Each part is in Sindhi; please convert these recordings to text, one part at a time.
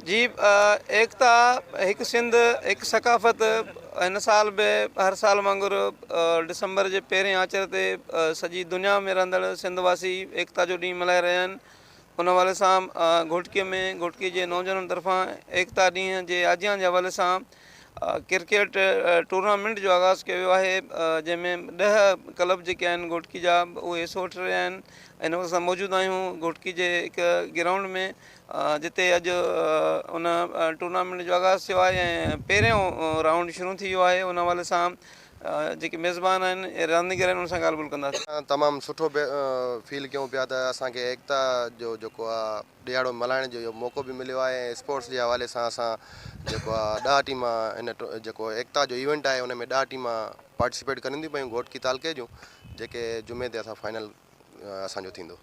جي ايڪتا هڪ سنڌ هڪ ثقافت هن سال به هر سال وانگر ڊسمبر جي پهرين آچر تي سڄي دنيا ۾ رهندڙ سنڌ واسي ايڪتا جو ڏينهن ملهائي رهيا آهن ان حوالي سان گهوٽڪي ۾ گهوٽڪي جي نوجوانن طرفان ايڪتا ڏينهن جي آجيان جي حوالي سان ڪرڪيٽ ٽورنامينٽ جو آغاز ڪيو ويو آهي جنهن ۾ ڏهه ڪلب جيڪي آهن گهوٽڪي جا اهي حصو وٺي رهيا آهن هن وقت اسان موجود آهيون گهوٽڪي جي هڪ گرائونڊ ۾ جتي اڄ ان ٽورنامينٽ جو آغاز ٿيو آهي ۽ پهريون رائونڊ شروع ٿي ويو آهي ان حوالي سان جيڪي ميزبان آهن رانديگر آهن انهن سان ڳالهه ٻولهه ڪنداسين تمام سٺو فيل ڪيون پيا ته اسانکي ايڪتا جو جيڪو آ ڏهاڙو ملهائڻ جو اهو موقعو به مليو آهي ۽ اسپورٽس جي حوالي سان اسان جيڪو آهي ڏهه ٽيما هن جيڪو ايڪتا جو ايونٽ آهي ان ۾ ڏهه ٽيما پارٽيسپيٽ ڪرن ٿيون پيون گهوٽڪي تعلقي جون جيڪي جمعي تي اسان فائنل اسانجو ٿيندو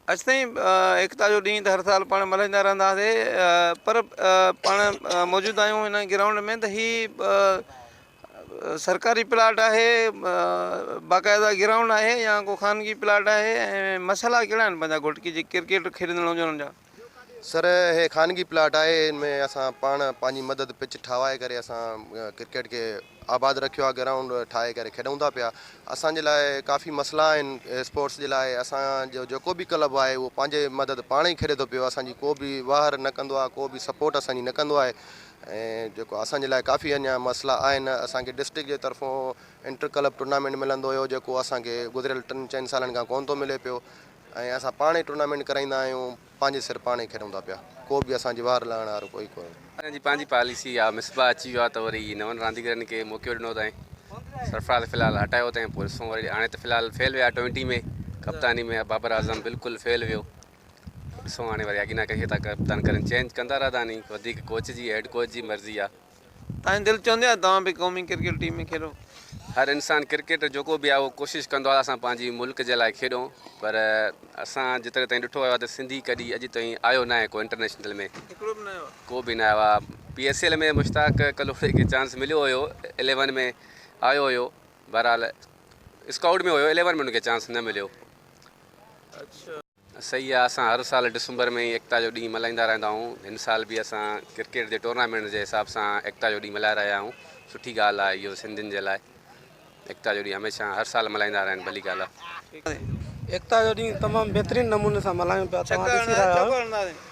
اڄ تائين ايڪتا جو ڏينهن ته هر سال پاڻ ملهائيندا رهندا هئاسي پر پاڻ موجود آهيون هن گرائونڊ ۾ ته هي سرڪاري پلاٽ آهي باقاعده گرائونڊ آهي يا ڪو خانگي پلاٽ آهي ۽ مسئلا ڪهڙا آهن پنهنجا گهوٽ کي جي ڪرڪيٽ کيڏندڙ هجن ان جا. سر هي خانگي پلاٽ آهي ان ۾ اسان پاڻ پنهنجي مدد پچ ٺاهوائي ڪري اسان ڪرڪيٽ کي آباد رکيو آهي گرائونڊ ٺاهي ڪري کيڏون ٿا پيا اسان جي لاء ڪافي مسئلا آهن اسپورٽس جي لاء اسان جو جيڪو به ڪلب آهي اهو پنهنجي مدد پاڻ ئي کيڏي ٿو پيو اسان جي ڪو به واهر نه ڪندو آهي ڪو به سپورٽ اسان جي نه ڪندو آهي ۽ جيڪو اسان جي لاء ڪافي اڃان مسئلا آهن اسان کي ڊسٽرڪٽ جي طرفون انٽر ڪلب ٽورنامينٽ ملندو هيو جيڪو اسان کي گذريل ٽن چئن سالن کان ڪون ٿو ملي پيو ۽ اسان پاڻ ئي ٽورنامينٽ ڪرائيندا آهيون پنهنجي سر پاڻ ئي کيڏون ٿا پيا ڪو به اسان جي وار لهڻ وارو ڪوئي ڪونهي اسان جي پنهنجي پاليسي آ مصباح اچي ويو آ ته وري نون رانديگرن کي موقعو ڏنو تائين سرفراز في الحال هٽايو تائين پوء ڏسون وري هاڻي ته في الحال فيل ويا ٽوئنٽي ۾ ڪپتاني ۾ بابر اعظم بلڪل فيل ويو ڏسون هاڻي وري اڳي نه ڪهي ٿا ڪپتان ڪرن چينج ڪندا رهدا ني وڌيڪ ڪوچ جي هيڊ ڪوچ جي مرضي آ. تهانجي دل چوندي آهي توهان به قومي ڪرڪيٽ ٽيم ۾ کيڏو. هر انسان ڪرڪيٽر جيڪو به آهي اهو ڪوشش ڪندو آهي ته اسان پنهنجي ملڪ جي لاء کيڏون پر اسان جيتري تائين ڏٺو ويو آهي ته سنڌي ڪڏي اڄ تائين آيو ناهي ڪو انٽرنيشنل ۾ هڪڙو به ناهي آيو ڪو به نه آيو آهي پي ايس ايل ۾ مشتاق ڪلهوڙي کي چانس مليو هيو اليون ۾ آيو هيو بهرحال اسڪائوٽ ۾ هيو اليون ۾ ان کي چانس نه مليو صحيح آ اسان هر سال ڊسمبر ۾ ئي ايڪتا جو ڏينهن ملهائيندا رهندا آهيون هن سال به اسان ڪرڪيٽ جي ٽورنامينٽ جي حساب سان ايڪتا جو ڏينهن ملهائي رهيا آهيون سٺي ڳالهه آهي اهو سنڌين جي لاء ايڪتا جو ڏينهن هميشه هر سال ملهائيندا رهن ڀلي ڳالهه آهي. ايڪتا جو ڏينهن تمام بهترين نموني سان ملهايون پيا توهان ڏسي رهيا آهيو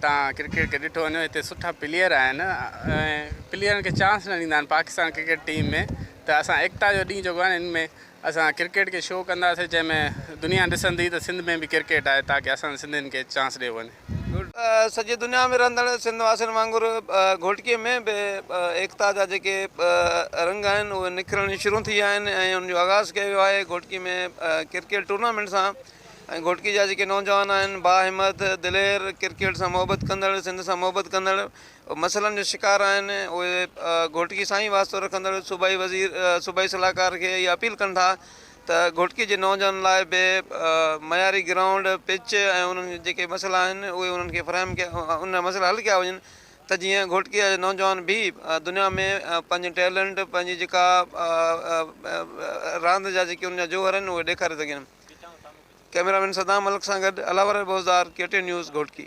تان ڪرڪيٽ کي ڏٺو وڃي هتي سٺا پليئر آهن ۽ پليئرن کي چانس نه ڏيندا آهن پاڪستان ڪرڪيٽ ٽيم ۾ ته اسان ايڪتا جو ڏينهن جيڪو آهي ان ۾ اسان ڪرڪيٽ کي شو ڪنداسين جنهن ۾ دنيا ڏسندي ته سنڌ ۾ به ڪرڪيٽ آهي تاڪه اسان سنڌين کي چانس ڏيو وڃي. سڄي دنيا ۾ رهندڙ سنڌ واسين وانگر گهوٽڪي ۾ به ايڪتا جا جيڪي رنگ آهن اهي نکرڻ شروع ٿي ويا آهن ۽ ان جو آغاز ڪيو ويو آهي گهوٽڪي ۾ ڪرڪيٽ ٽورنامينٽ سان ۽ گهوٽڪي جا جيڪي نوجوان آهن باهمت، دلير، ڪرڪيٽ سان محبت ڪندڙ، سنڌ سان محبت ڪندڙ مسئلن جو شڪار آهن اهي گهوٽڪي سان ئي واسطو رکندڙ صوبائي وزير صوبائي صلاحڪار کي اهي اپيل ڪن ٿا ته گهوٽڪي جي نوجوانن لاء به معياري گرائونڊ، پچ ۽ انهن جا جيڪي مسئلا آهن اهي انهن کي فراهم ڪيا انهن جا مسئلا حل ڪيا وڃن ته جيئن گهوٽڪي جا نوجوان به دنيا ۾ پنهنجي ٽيلنٽ پنهنجي جيڪا راند جا جيڪي انهن جا جوهر آهن اهي ڏيکاري سگهن. ڪئميرا مين صدام ملڪ سان گڏ علاوره Buzdar K T news Ghotki.